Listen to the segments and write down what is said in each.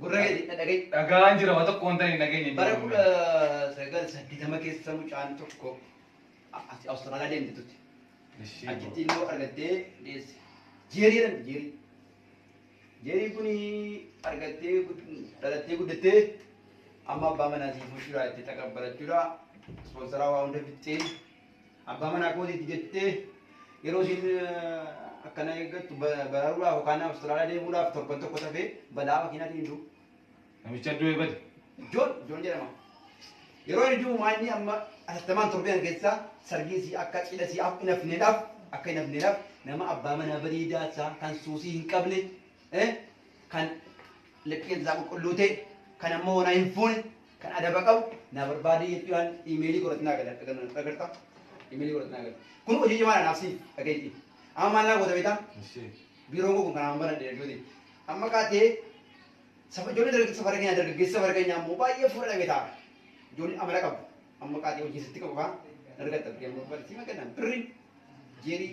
Gurra kee na dhaga'i. Dhagaan jira waa tokko wanta hin dhageenye. Bara kudha sagal saddeetama keessa mucaan tokko Awustiraaliyaa deemte turte. Achitti ilmoo argattee deesse. Jeerii jedhamti jeerii. Jeerii kun argattee dhalattee guddattee amma abbaa manaa siif mushuu jiraatti takka barachuudha. Ispoonsaraa waa hunda bittee Abbaa manaa kootiiti jettee yeroo isiin akkana eeggattu bararuudhaaf yookaan Awustiraaliyaa deemuudhaaf torban tokko tafee balaa makiinaatiin hin du'u. Namicha du'e bade. Joon Joon jedhama. Yeroo inni du'u maa inni amma atattamaan torbee kana keessaa sargiin sii akka cidha sii akka hin hafneedhaaf akka hin hafneedhaaf nama abbaa manaa bareedaa isaa kan suusii hin qabne kan Likkii isaa qulqulluu ta'e kan ammoo wanaa hin fuune kan adaba qabu naa barbaadee jechuun waan imeelii godhatu naa gala dhagarta imeelii godhatu naa gala kun hojii cimaa naaf siin dhageetti amma maal naa goota beektaa biiroon koo kun kanaan baradhe jechuuti amma kaatee saba ijoollee dargaggeessa safara keenya dargaggeessa safara keenya ammoo baay'ee fuula dhabee ta'a ijoollee amala qabu amma kaatee hojii sitti qabu faa dargatta birrii amma barbaadde siima kenna birrii jeerii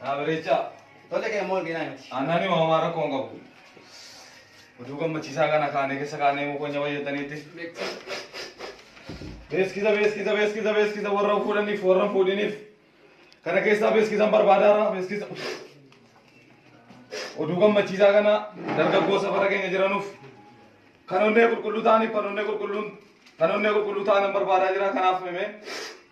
Naa bareechaa. Tole kee immoo arginaa miti. Aannani maamaa rakkoo hin qabu. Oduu gammachiisaa kana kaanee keessa kaanee mukonya fayyadaniitti. Beeskiisa beeskiisa beeskiisa beeskiisa warra fuudhaniif warra fuudhiniif. Kana keessaa beeskiisan barbaadaara beeskiisa. Oduu gammachiisaa kana dargaggoo safara keenya jiranuuf kan onnee qulqulluu ta'aniif kan onnee qulqulluun kan onnee qulqulluu ta'an barbaadaa jira kanaaf himee.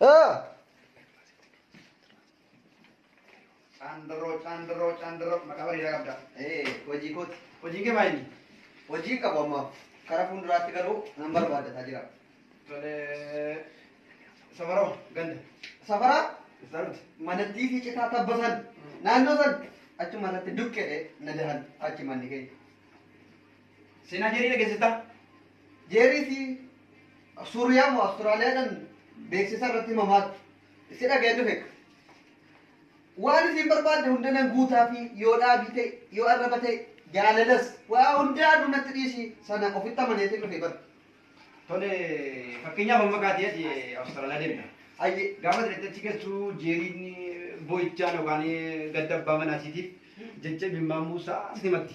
Ah! Caandarroo caandarroo caandarroo maqaa bareedaa qabda. Eh, hojii kooti. Hojiin kee maayini? Hojii hin qabu ammaaf. Karaa fuulduraatti garuu nan barbaaddataa jira. Tole safaroo ganda. Safaraa Isaa miti. manattii fi citaa tabba san naannoo san achuma irratti dukkedhe na dahan achi manni keenya. Seenaa Jeerii dhageessittaa? Jeerii fi Suuriyaa moo Awustiraaliyaadhaan beeksisa irratti mamaaktu. Si dhaga'een dhufe. Waan isiin barbaadde hunda nan guutaafi yoo dhaabii ta'e, yoo arraba ta'e, jaalalas waa hundaanuu natti dhiisi sana ofitti amaneetiin dhufe bar. Tole fakkeenyaaf amma kaatee ati Awustiraaliyaa deemta. Ayyee. Gaafa ati dhaqxee achi geessu Jeeriin boo'ichaan yookaan gadda abbaa manaa isiitiif jecha imimmaan buusaa sitti himatti.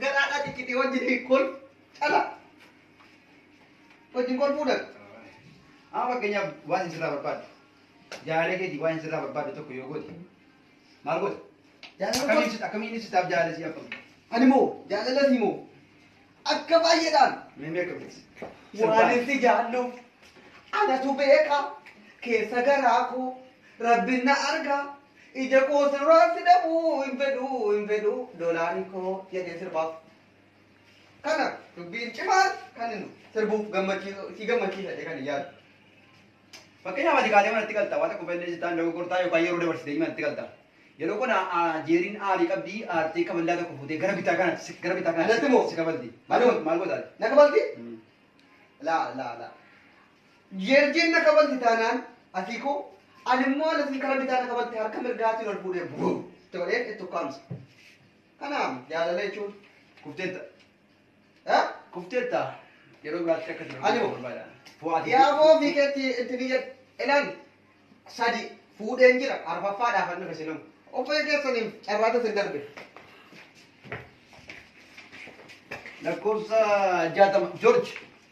Garaadhaa ciccitee wajjin kol cala. Wajjin kol fuudhan. Amma fakkeenyaaf waan isin sirraa barbaaddu. Jaalee keetii waan isin sirraa barbaaddu tokko yoo goote. Maal goota? Akkamiin ibsita? Akkamiin ibsitaaf jaalee si abbamu? Ani moo jaalala si moo akka baay'eedhaan. Meemee akkamitti? Waan itti jaalluuf anatu beeka keessa garaa koo rabbin na arga Ija koo sirraa si dhabuu hin fedhuu hin fedhuu doolaarii koo jedhee sirbaaf. Kana dubbiin cimaan kan inni sirbuuf gammachiisu si gammachiisa jedhee kan hin yaadu. Fakkeenyaaf ati kaatee manatti galta waan tokko balleessi ta'an dogoggortaa yookaan yeroo dabarsitee manatti galta. Yeroo kana jeeriin aarii qabdi aartee kaballaa tokko fuutee gara bitaa kanatti si- gara bitaa Anatti moo? kanatti si kabalti. Maal Anuma. goota- maal gootaati? Na kabalti? Laa laa laa. Jeerjiin na kabalti taanaan Atiikoo, ani immoo alatiin karaa bitaa na kabalte harka mirgaatiin ol fuudhee buu itti godheen itti ukkaamse. Kanaaf jaalala jechuun kufteetta. Eh? Kufteetta. Yeroo biraatti akka itti Ani dorgomtu moo? barbaada. Fo'aati. Yaaboo fiikeetti itti fiyyad. Ilaal sadi fuudheen jira arfaffaadhaaf an dhufe silum. Qophee keessaniif carraatu isin darbe. Lakkoofsa jaatama. Joorji.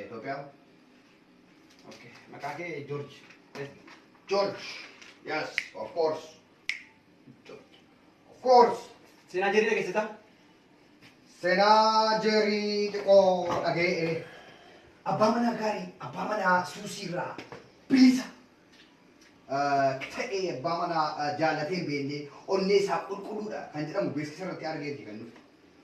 Itoophiyaa. Okay. Maqaa kee George. Yes. George. Yes, of course. George. Of course. Seenaa jeerii dhageessita? Seenaa jeerii xiqqoo dhaga'e. Abbaa manaa gaarii, abbaa manaa suusiirraa bilisa. Ta'ee abbaa manaa jaallatee hin beekne onnee isaa qulqulluudha kan jedhamu beeksisa irratti argee fi kan nuti.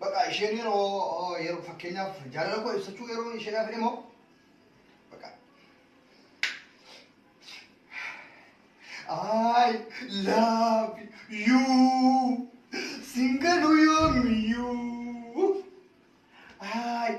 Baqa isheen yeroo yeroo fakkeenyaaf jaalala koo ibsachuu yeroo isheedhaaf jedhe moo baqa I love you singalu yoomiyuu I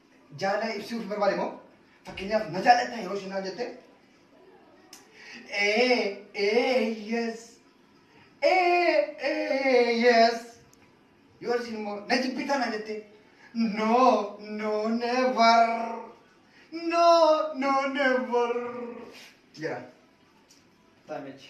Jaalala ibsuuf barbaade moo? Fakkeenyaaf na jaallatta yeroo isheen naan jette ee ee yes ee ee yes yoo isheen immoo na jibbitaa naan jette no no never no no never jedha. Taamichi.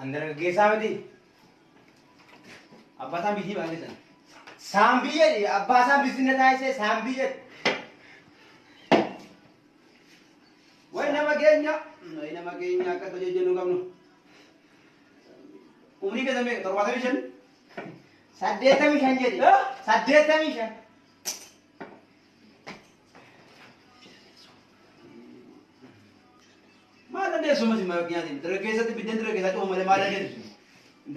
An dargaggeessaa miti. Abbaa isaan biyyii ba'an keessan. Saan biyyadhi. Abbaa isaan bisinna taasisee saan biyyadhi. Way nama keenya. Way nama keenya akka tole jennu qabnu. Umrii keessan meeqa? Torbaatamii shan. Saddeettamii shan jedhi. Saddeettamii shan. Maal dandeessu mati mara nyaatiin dargaggeessatti biddeen dargaggeessaa cufa malee maal dandeessu?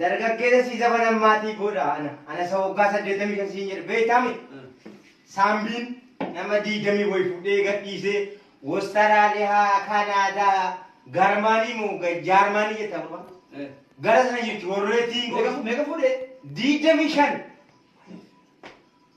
Dargaggeessa sii zabanan maatii godha ana. Ana isa waggaa saddeettamii kan siin jedhe beektaami. Saambiin nama diigamii wayi fudhee gadhiisee Wostaraaliyaa, Kanaadaa, Garmaanii moo Jaarmaanii jettaa gurbaan. Gara sana jechuun warreetiin Meeqa fuudhee? diigamii shan.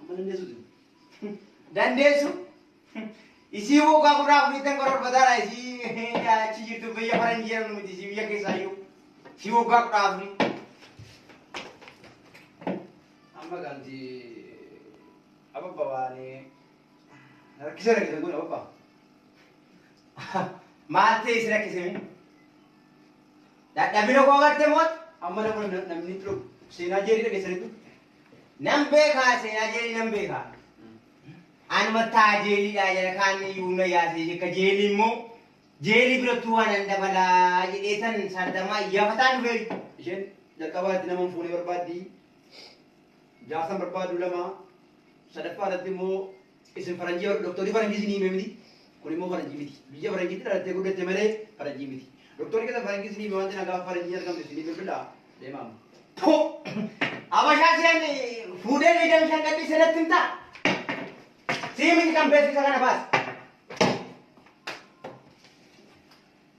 Amma dandeessu jiru. Dandeessu. Isii waggaa kudha afurittan kororfataadha isii achi jirtu biyya faranjii jedhamnu miti isii biyya keessaayyuu. Isii waggaa kudha afurii. Amma gaanti ababba waan rakkisa rakkisan kun ababba. Maal ta'e si rakkise mi? Dadhabina koo agartee moot amma namni namni seenaa jeerii dhageessanitu. Nan beekaa seenaa jeelii nan beekaa. An mattaa jeeliidhaa jala kaanni iyyuu na yaasee jekka jeelii immoo jeelii birattuu waan an dabalaa jedheetan sardamaa iyyafataan dhufee. Isheen jalqabaa irratti nama hin fuune barbaaddi. Jaarsan barbaaddu lama. Sadaffaa irratti immoo Isin faranjii bar doktorii faranjii isinii himee miti kun immoo faranjii miti biyya faranjiitti dhalattee guddatte malee faranjii miti doktorii keessan faranjii isinii himee wanti nagaa faranjii argamte isinii bilbilaa deemaam. Puu! Abashaa seen fuudhee liidan shan gadhii senatti himta. Sii miti kan beeksisa kana baas.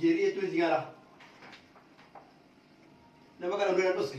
jeerii jechuun sigaaraa nama kana dura dhosse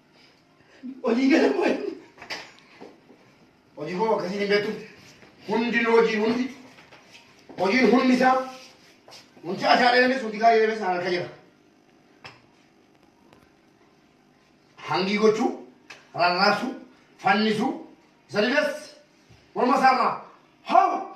Hojii galan wayi. Hojii koo akkasiin hin beektu. Hundi hojii hundi. Hojiin hundi isaa. Hundi asaa dheeremes hundi gaarii dheeremes harka jira. Hangii gochuu, rarraasuu, fannisuu, isa didas morma isaarraa hoo!